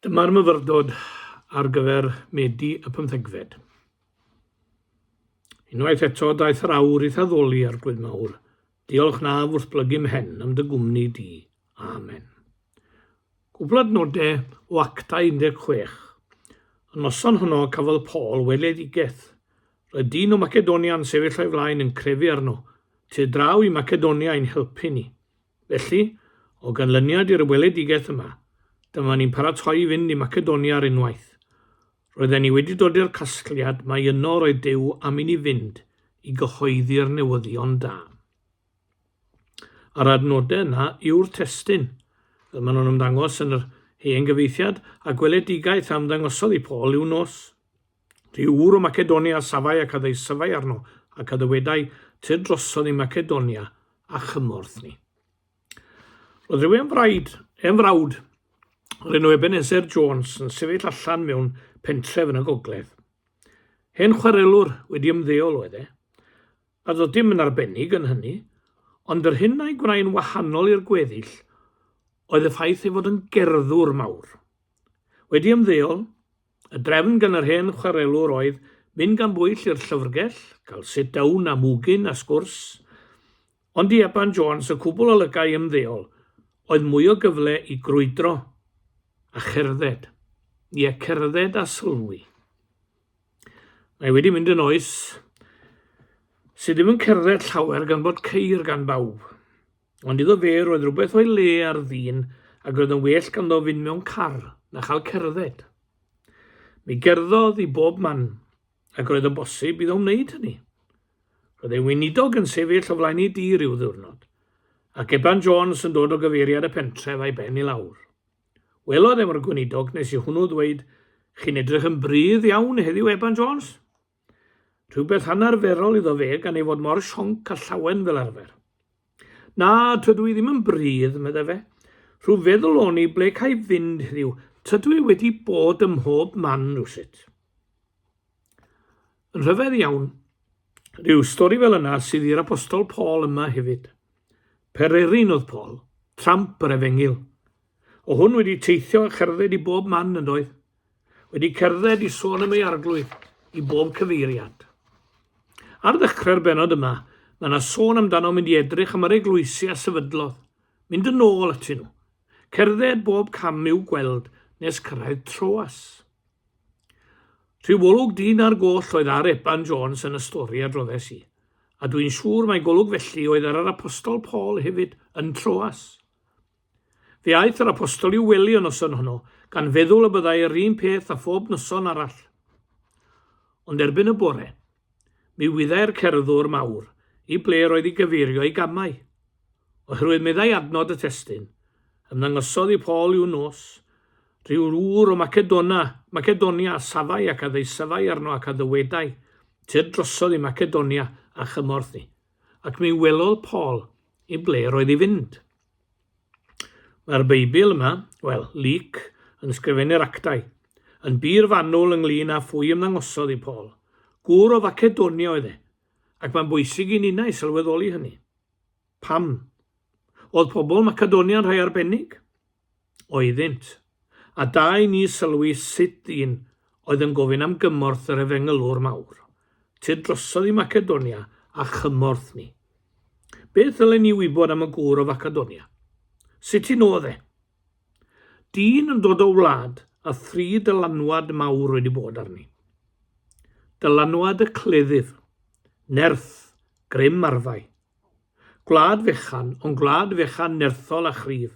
Dyma'r myfyrdod ar gyfer Medi y pymthegfed. Unwaith eto, daeth yr awr i'th addoli, Arglwydd Mawr. Diolch na wrthblygu mhen am dy gwmni di. Amen. Cwbl adnodau o actau 16. Y noson honno cafodd Paul weledigaeth. Roedd dyn o Macedonia yn sefyll o'i flaen yn crefu arno. Ti draw i Macedonia i'n helpu ni. Felly, o ganlyniad i'r weledigaeth yma, dyma ni'n paratoi i fynd i Macedonia ar unwaith. Roedden ni wedi dod i'r casgliad mai yno roedd Duw am i ni fynd i gyhoeddi'r newyddion da. A'r adnodau yna yw'r testyn, fel maen nhw'n ymddangos yn yr hen gyfeithiad, a gweledigaeth a ymddangosodd i Paul i'w nos. Dŷ ŵr o Macedonia a safai ac a ddeisyfai arno, ac a dywedai, Tyr drosodd i Macedonia a chymorth ni. Roedd rhyw enfraid, enfrawd, o'r enw Ebenezer Jones yn sefyll allan mewn pentref yn y gogledd. Hen chwarelwr wedi ymddeol oedd e, a doedd dim yn arbennig yn hynny, ond yr hyn a'i gwnaen wahanol i'r gweddill oedd y ffaith ei fod yn gerddwr mawr. Wedi ymddeol, Y drefn gan yr hen chwarelwr oedd mynd gan bwyll i'r llyfrgell, cael sit down a mwgyn a sgwrs, ond i Eban Jones, y cwbl o lygaid ymddeol, oedd mwy o gyfle i grwydro a cherdded, ie, cerdded a sylwi. Mae wedi mynd yn oes sydd ddim yn cerdded llawer gan bod ceir gan bawb. Ond iddo fe roedd rhywbeth o'i le ar ddyn ac roedd yn well ganddo fynd mewn car na chael cerdded. Mi gerddodd i bob man, ac roedd yn bosib iddo wneud hynny. Roedd ei weinidog yn sefyll o flaen ei dŷ rhyw ddiwrnod, ac Eban Jones yn dod o gyfeiriad y pentref a'i ben i lawr. Welodd efo'r gweinidog nes i hwnnw ddweud, Chi'n edrych yn brydd iawn heddiw, Eban Jones? Rhywbeth anarferol iddo fe gan ei fod mor sionc a llawen fel arfer. Na, tydw i ddim yn brydd, meddai fe. Rhyw feddwl o'n i ble ca'i fynd heddiw, tydw i wedi bod ym mhob man rhywsut. Yn rhyfedd iawn, rhyw stori fel yna sydd i'r apostol Paul yma hefyd. Pererin oedd Paul, tramp yr efengyl. O hwn wedi teithio a cherdded i bob man yn doedd. wedi cerdded i sôn am ei arglwydd i bob cyfeiriad. Ar ddechrau'r benod yma, mae yna sôn amdano mynd i edrych am yr eglwysi a sefydlodd, mynd yn ôl atyn nhw, cerdded bob cam i'w gweld nes cyrraedd Troas. Rhyw olwg dyn ar goll oedd ar Eban Jones yn y stori a droddes i, a dwi'n siŵr mae golwg felly oedd ar yr apostol Paul hefyd yn Troas. Fe aeth yr Apostol i'w wely y noson honno, gan feddwl y byddai yr un peth â phob noson arall. Ond erbyn y bore, mi wyddai'r cerddwr mawr i ble roedd i gyfeirio ei gamau. Oherwydd meddai adnod y testyn, ymddangosodd i Paul i'w nos, rhyw ŵr o Macedona, Macedonia a safai ac a ddeisyfai arno ac a ddywedai, Tyr drosodd i Macedonia a chymorth ni. Ac mi welodd Paul i ble roedd i fynd. Mae'r Beibl yma, wel, Luc, yn ysgrifennu'r Actau, yn bur fanwl ynglŷn â phwy ymddangosodd i Paul. Gŵr o Facedonia oedd e, ac mae'n bwysig i ninnau sylweddoli hynny. Pam? Oedd pobl Macedonia'n rhai arbennig? oeddynt, a da i ni sylwi sut dyn oedd yn gofyn am gymorth yr efengylwr mawr, Tud drosodd i Macedonia a chymorth ni. Beth ddylen ni wybod am y gŵr o Facedonia? Sut un oedd e? Dyn yn dod o wlad a thri dylanwad mawr wedi bod arni. Dylanwad y cleddyf, nerth, grym arfau. Gwlad fechan, ond gwlad fechan nerthol a chryf,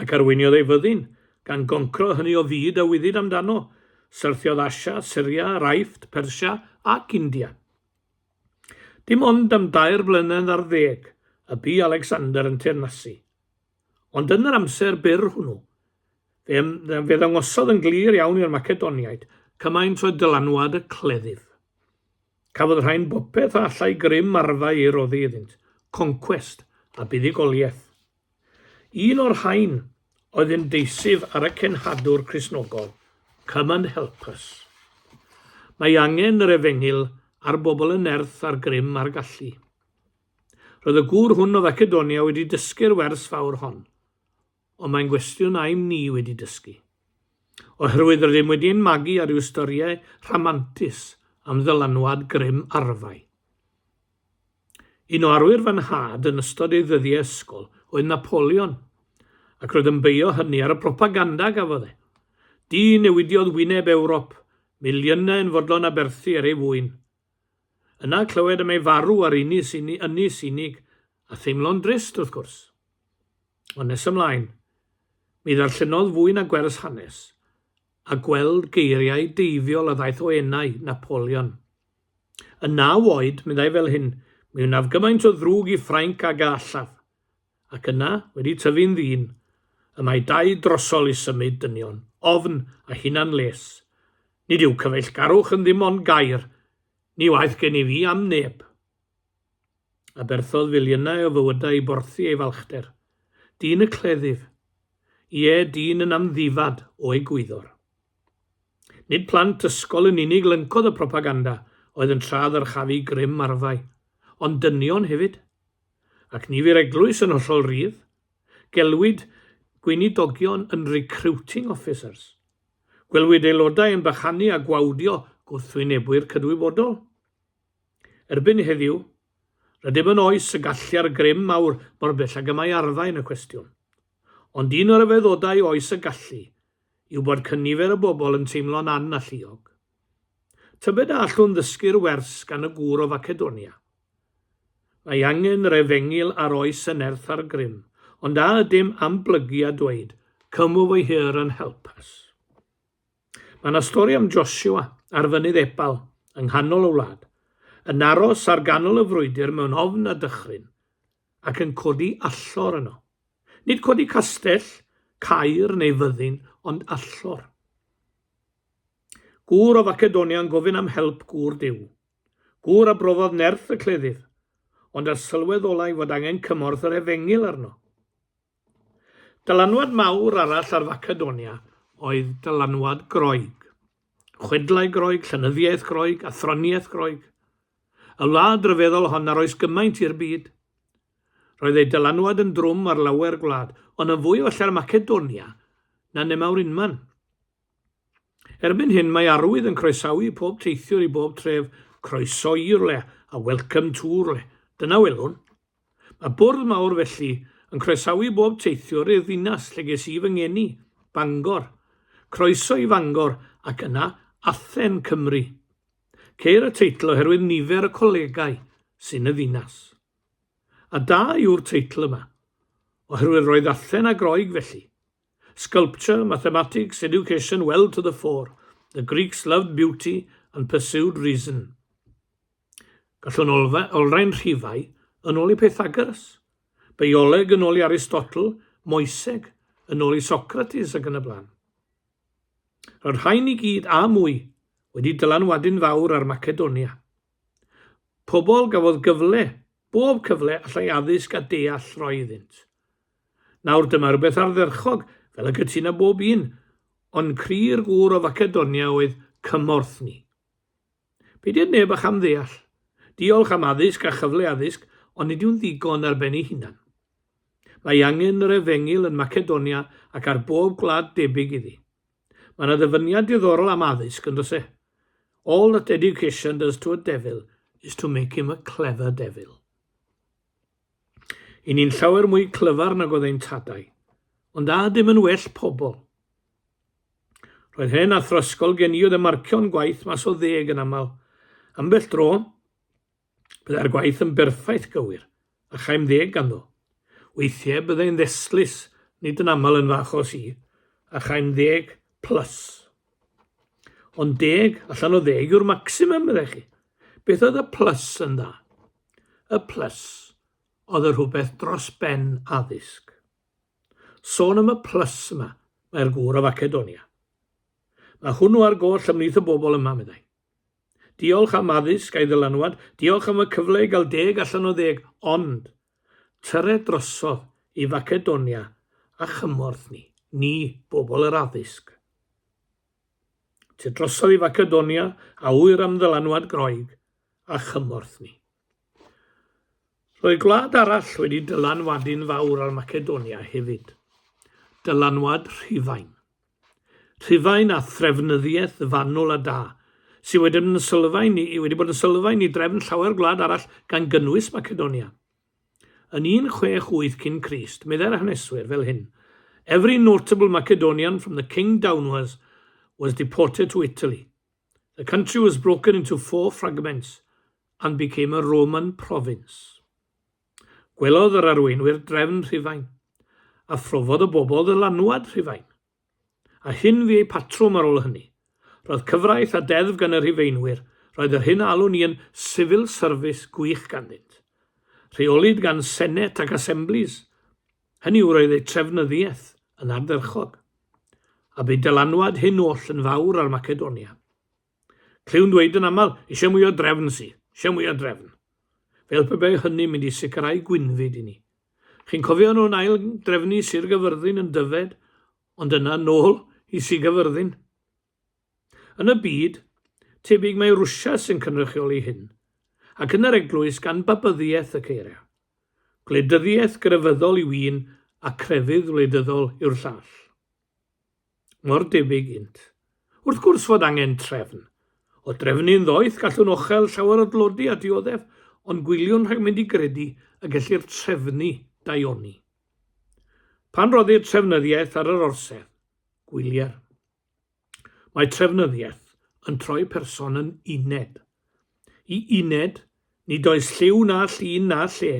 ac arweiniodd ei fyddin, gan goncro hynny o fyd a wyddid amdano. Syrthiodd Asia, Syria, yr Aifft, Persia ac India. Dim ond am dair blynedd ar ddeg y bu Alexander yn teyrnasu. Ond yn yr amser byr hwnnw, fe, fe ddangosodd yn glir iawn i'r Macedoniaid cymaint oedd dylanwad y cleddyf. Cafodd rhain bopeth a allai grym arfau ei roddi iddynt, concwest a buddugoliaeth. Un o'r rhain oedd ymgeisydd ar y cenhadwr Cristnogol, Come and help us. Mae angen yr efengyl ar bobl yn nerth ar grym ar gallu. Roedd y gŵr hwn o Facedonia wedi dysgu'r wers fawr hon, ond mae'n gwestiwn aym ni wedi dysgu. Oherwydd rydym wedi ein magu ar ryw storiau rhamantus am ddylanwad grym arfau. Un o arwyr fy nhad yn ystod ei ddyddiau ysgol oedd Napoleon, ac roedd yn beio hynny ar y propaganda a gafodd e. Dyn newidiodd wyneb Ewrop, miliynau yn fodlon aberthu ar ei fwyn. Yna clywed am ei farw ar Ynys Unig, Ynys Unig a theimlo'n drist, wrth gwrs. Ond nes ymlaen, mi ddarllenodd fwy na gwers hanes, a gweld geiriau deifiol a ddaeth o enau, Napoleon. Yn naw oed, meddai fel hyn, mi wnaf gymaint o ddrwg i Ffrainc ag a allaf. Ac yna, wedi tyfu'n ddyn, y mae dau drosol i symud dynion, ofn a hunan les. Nid yw cyfeillgarwch yn ddim ond gair, ni waeth gen i fi am neb. Aberthodd filiynau o fywydau i borthi ei falchder. Dyn y cleddyf. Ie, dyn yn amddifad o egwyddor. Nid plant ysgol yn unig lyncodd y propaganda oedd yn tra ddyrchafu grym arfau, ond dynion hefyd. Ac ni fu'r eglwys yn hollol rydd. Gelwid gweinidogion yn 'recruiting officers'. Gwelwyd aelodau yn bychanu a gwawdio gwrthwynebwyr cydwybodol. Erbyn heddiw, rydym yn oes y gallu'r grym mawr mor bell ag y mae arfau yn y cwestiwn. Ond un o ryfeddodau oes y gallu yw bod cynifer y bobl yn teimlo'n annalluog. Tybed a allwn ddysgu'r wers gan y gŵr o Facedonia? Mae angen yr efengyl ar oes y nerth a'r grym, ond a ydym am blygu a dweud, Come over here and help us? Mae yna stori am Joshua ar fynydd Ebal yng nghanol y wlad, yn aros ar ganol y frwydr mewn ofn a dychryn, ac yn codi allor yno. Nid codi castell, caer neu fyddin, ond allor. Gŵr o Facedonia'n gofyn am help gŵr Duw. Gŵr a brofodd nerth y cleddyf, ond a sylweddolai fod angen cymorth yr efengyl arno. Dylanwad mawr arall ar Facedonia oedd dylanwad Groeg. Chwedlau Groeg, llenyddiaeth Groeg, athroniaeth Groeg. Y wlad ryfeddol hon ar oes gymaint i'r byd. Roedd ei dylanwad yn drwm ar lawer gwlad, ond yn fwy oll ar Macedonia na nemawr unman. Erbyn hyn mae arwydd yn croesawu pob teithiwr i bob tref, Croeso i rwle a Welcome to rwle. Dyna welwn. Mae bwrdd mawr felly yn croesawu bob teithiwr i'r ddinas lle ges i fy ngeni, Bangor. Croeso i Fangor ac yna Athen, Cymru. Ceir y teitl oherwydd nifer y colegau sy'n y ddinas. A da yw'r teitl yma, oherwydd roedd Athen a Groeg felly. Sculpture, mathematics, education, well to the fore. The Greeks loved beauty and pursued reason. Gallwn olfa, olrhain rhifau yn ôl i Pythagoras, bioleg yn ôl i Aristotle, moeseg yn ôl i Socrates ac yn y blaen. Roedd rhain i gyd a mwy wedi dylanwadu'n fawr ar Macedonia. Pobl gafodd gyfle, bob cyfle allai addysg a deall roi iddynt. Nawr dyma rywbeth ardderchog, fel y cytuna bob un, ond cri'r gŵr o Facedonia oedd cymorth ni. Be diod neb a cham ddeall? Diolch am addysg a chyfle addysg, ond nid yw'n ddigon ar ben ei hunan. Mae angen yr efengil yn Macedonia ac ar bob gwlad debyg iddi. Mae yna ddyfyniad diddorol am addysg, yn does e? All that education does to a devil is to make him a clever devil. I ni'n llawer mwy clyfar nag oedd ein tadau, ond a dim yn well pobl. Roedd hen athrysgol gen i oedd y marcio'n gwaith mas o ddeg yn aml. Ambell dro, Byddai'r gwaith yn berffaith gywir, a chaem ddeg ganddo. Weithiau byddai'n ddestlus, nid yn aml yn fy achos i, a chaem ddeg plus. Ond deg allan o ddeg yw'r maximum, meddech chi. Beth oedd y plus yn dda? Y plus oedd y rhywbeth dros ben addysg. Sôn am y plus yma, mae'r gŵr o Facedonia. Mae hwnnw ar goll ymlith y bobl yma, meddai. Diolch am addysg a'i ddylanwad, diolch am y cyfle i gael deg allan o ddeg, ond tyred drosodd i Facedonia a chymorth ni, ni, bobl yr addysg. Ty drosodd i Facedonia a ŵyr am ddylanwad Groeg a chymorth ni. Roedd gwlad arall wedi dylanwadu'n fawr ar Macedonia hefyd. Dylanwad Rhufain. Rhufain a threfnyddiaeth fanwl a da, sydd wedi bod yn sylfaen i, wedi bod yn sylfaen i drefn llawer gwlad arall gan gynnwys Macedonia. Yn 168 cyn Crist, meddai'r haneswyr fel hyn, Every notable Macedonian from the king downwards was deported to Italy. The country was broken into four fragments and became a Roman province. Gwelodd yr arweinwyr drefn Rhufain, a phrofodd y bobl ddylanwad Rhufain. A hyn fu eu patrwm ar ôl hynny. Roedd cyfraith a deddf gan y Rhufeinwyr, roedd yr hyn a alwn i yn civil service gwych ganddynt. Rheolid gan Senedd ac Assemblies, hynny yw roedd eu trefnyddiaeth yn ardderchog. A bu dylanwad hyn oll yn fawr ar Macedonia. Clywn ddweud yn aml, eisiau mwy o drefn, si, eisiau mwy o drefn. Fel pe bai hynny'n mynd i sicrhau gwynfyd i ni. Chi'n cofio nhw'n ail drefnu Sir Gyfyrddin yn Dyfed, ond yna nôl i Sir Gyfyrddin? Yn y byd, tebyg mae Rwsia sy'n cynrychioli hyn, ac yn yr eglwys gan Babyddiaeth y Ceira. Gwleidyddiaeth grefyddol yw un a crefydd wleidyddol yw'r llall. mor debyg ynt. Wrth gwrs fod angen trefn. O drefnu'n ddoeth gallwn ochel llawer o dlodi a dioddef, ond gwyliwn rhag mynd i gredu y gellir trefnu daioni. Pan roddir trefnyddiaeth ar yr orsedd, gwylier. Mae trefnyddiaeth yn troi person yn uned. I uned, nid oes lliw na llun na lle,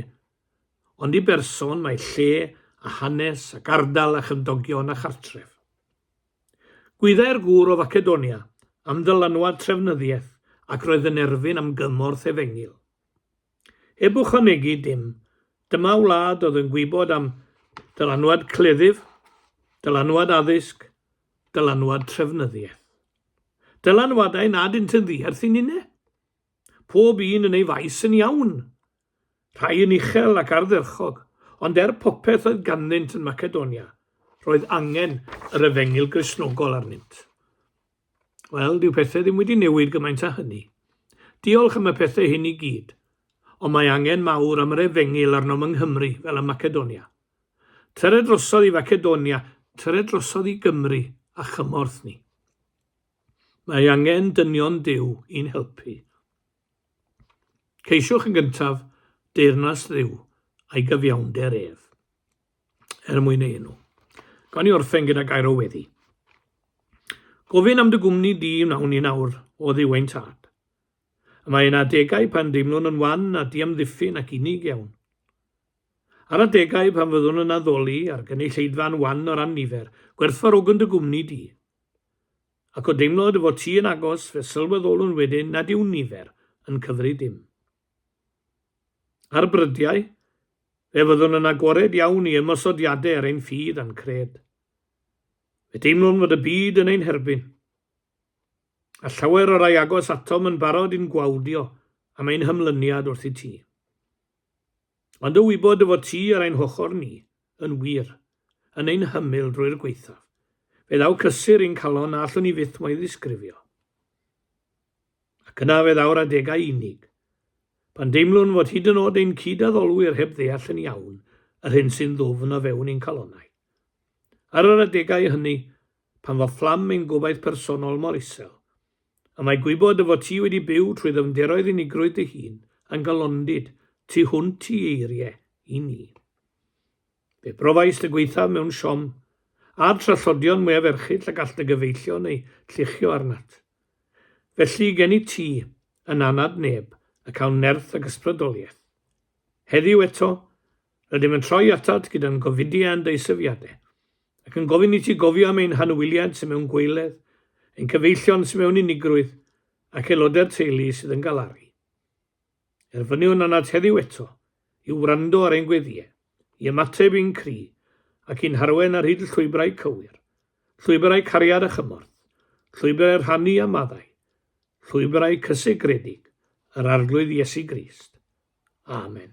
Ond i berson mae lle a hanes ac ardal a chymdogion a chartref. Gwyddai'r gŵr o Facedonia am ddylanwad trefnyddiaeth ac roedd yn erfyn am gymorth efengyl. Heb ychwanegu dim, dyma wlad oedd yn gwybod am dylanwad cleddyf, dylanwad addysg, dylanwad trefnyddiaeth. Dylanwadau nad ynt yn ddiarth i ninne. Pob un yn ei faes yn iawn, Rhai yn uchel ac ardderchog, ond er popeth oedd ganddynt yn Macedonia, roedd angen yr efengyl Gristnogol arnynt. Wel, dyw pethau ddim wedi newid gymaint â hynny. Diolch am y pethau hyn i gyd, ond mae angen mawr am yr efengyl arnom yng Nghymru fel ym Macedonia. Tyre drosodd i Facedonia, tyre drosodd i Gymru a chymorth ni. Mae angen dynion Duw i'n helpu. Ceisiwch yn gyntaf deyrnas Dduw a'i gyfiawnder ef, er mwyn ei enw. Gawn ni orffen gyda gair o weddi. Gofyn am dy gwmni di wnawn ni nawr o ddiwain tad. Y mae yna adegau pan deimlwn yn wan a diamddiffyn ac unig iawn. Ar adegau pan fyddwn yn addoli a'r gynulleidfa'n wan o ran nifer, gwerthfarogwn dy gwmni di. Ac o deimlo dy fod ti yn agos fe sylweddolwn wedyn nad yw nifer yn cyfri dim. Ar brydiau, fe fyddwn yn agored iawn i ymosodiadau ar ein ffydd a'n cred. Fe deimlwn fod y byd yn ein herbyn. A llawer o rai agos atom yn barod i'n gwawdio am ein hymlyniad wrth i ti. Ond o wybod dy fod ti ar ein hochr ni, Yn wir, yn ein hymyl drwy'r gwaethaf, fe ddaw cysur i'n calon na allwn ni fyth mo'i ddisgrifio. Ac yna fe ddaw'r adegau unig, pan deimlwn fod hyd yn oed ein cyd-addolwyr heb ddeall yn iawn yr hyn sy'n ddwfn o fewn i'n calonau. Ar yr adegau hynny, pan fo fflam ein gobaith personol mor isel, A mae gwybod dy fod ti wedi byw trwy ddyfnderoedd unigrwydd dy hun yn galondid tu hwnt i eirie i ni. Fe brofaist y gwaethaf mewn siom, a'r trallodion mwyaf erchyll y gall dy gyfeillion eu lluchio arnat. Felly, gennyt ti, yn anad neb, y cawn nerth ac ysbrydoliaeth. Heddiw eto, rydym yn troi atat gyda'n gofidiau a'n deisyfiadau. ac yn gofyn i ti gofio am ein hanwyliaid sydd mewn gweiledd, ein cyfeillion sydd mewn unigrwydd, ac aelodau'r teulu sydd yn galaru. Erfyniwn anat heddiw eto i wrando ar ein gweddiau, i ymateb i'n cri, ac i'n harwen ar hyd llwybrau cywir, llwybrau cariad a chymorth, llwybrau rhannu a maddau, llwybrau cysegredig yr Arglwydd Iesu Grist. Amen.